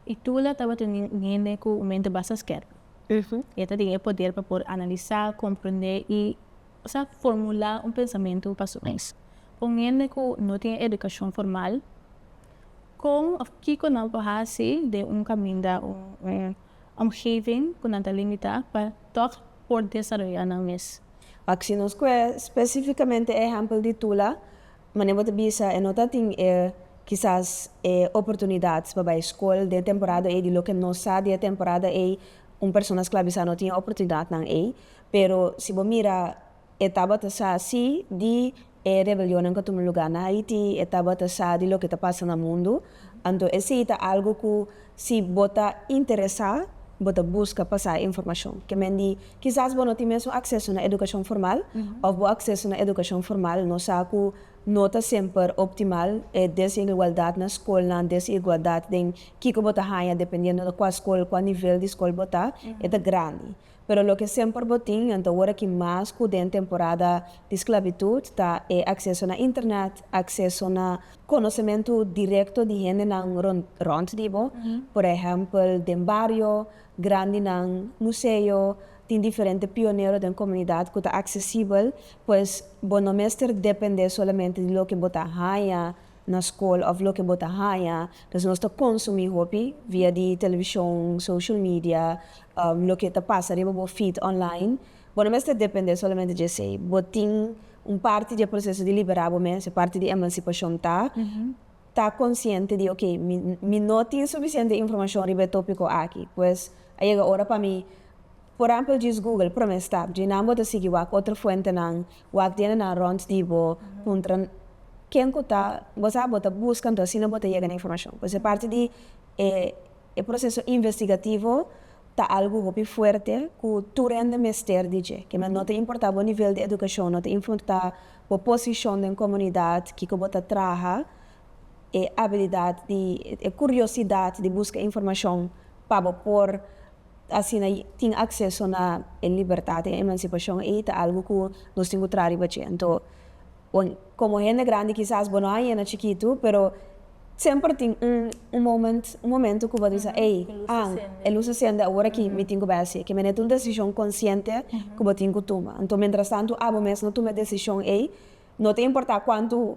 E Tula tabata un hende ku un mente basta skèp. E ta tin e poder pa por analisá, komprendé i sa formulá un pensamentu pa su mes. Pa un hende ku no tin e edukashon formal, kon òf kiko nan por hasi den un kaminda, un omgeving ku nan ta limitá pa tòg por desaroyá nan mes? Pak si nos kue spesífikamente e ehèmpel di Tula. Mane bo ta bisa e no ta tin e kisas e oportunidad pa bai skol den temporada ei di loke nos sa di e temporada ei un persona sklabisá no tin e oportunidadnan ei pero si bo mira e tabata sa si di e rebelionnan ku a tuma lugá na Haití e tabata sa di loke ta pasa na mundu Anto esei ta algu ku si bo ta interesá, bo ta buska pa sa e informashon. Ke men di, Kisas bo no tin mesun akseso na edukashon formal, òf bo akseso na edukashon formal no sa ku no ta semper optimal, e desigualdat na skolnan, desigualdat den kiko bo ta haña dependiendo di kua skol, kua nivel di skol bo ta, e ta grandi. Pero loke semper bo tin nan ta worde ki mas ku den temporada di sklabitut ta e akseso na internet, akseso na konosementu direkto di hendenan rònt di bo, por ehèmpel den bario, grandinan, museo, tin diferente pionero den komunidat ku ta aksesibel, pues bo no mester dependé solamente di loke bo ta haña na skol of loke bo ta haña, pues nos ta konsumí hopi via di televishon, social media, loke ta pasa riba bo feed online. Bo no mester dependé solamente dje esei. Bo tin un parti di e proseso di liberá bo mes, e parti di emansipashon ta ta konsiente di ok, mi mi no tin sufisiente informashon riba e tópiko aki, pues a yega ora pa mi. Por èmpel djis Google, promé stap, djin nan bo ta sigui wak otro fuentenan, wak diendenan rònt di bo, puntra ken ku ta, bo sa, bo ta buska anto asina bo ta yega na informashon. Pues e parti di e e proseso investigativo ta algu hopi fuerte ku tur hende mester di dje, kema no ta importá bo nivel di edukashon, no ta importá bo posishon den komunidat, kiko bo ta traha, e abilidad di e curiosidad di busca informacion pa bo por asina tin acceso na e libertad den emancipacion ei ta algo cu nos tin cu traha riba dje. Anto como hende grandi kisas bo no a yena chikitu pero semper tin un un moment un momento cu bo ta bisa ey ah e lus a sende awor aki mi tin cu bai haci'e kime'e ta un decision consciente cu bo tin cu tuma anto mientras tanto abo mes no tuma e decision ei no ta importa cuanto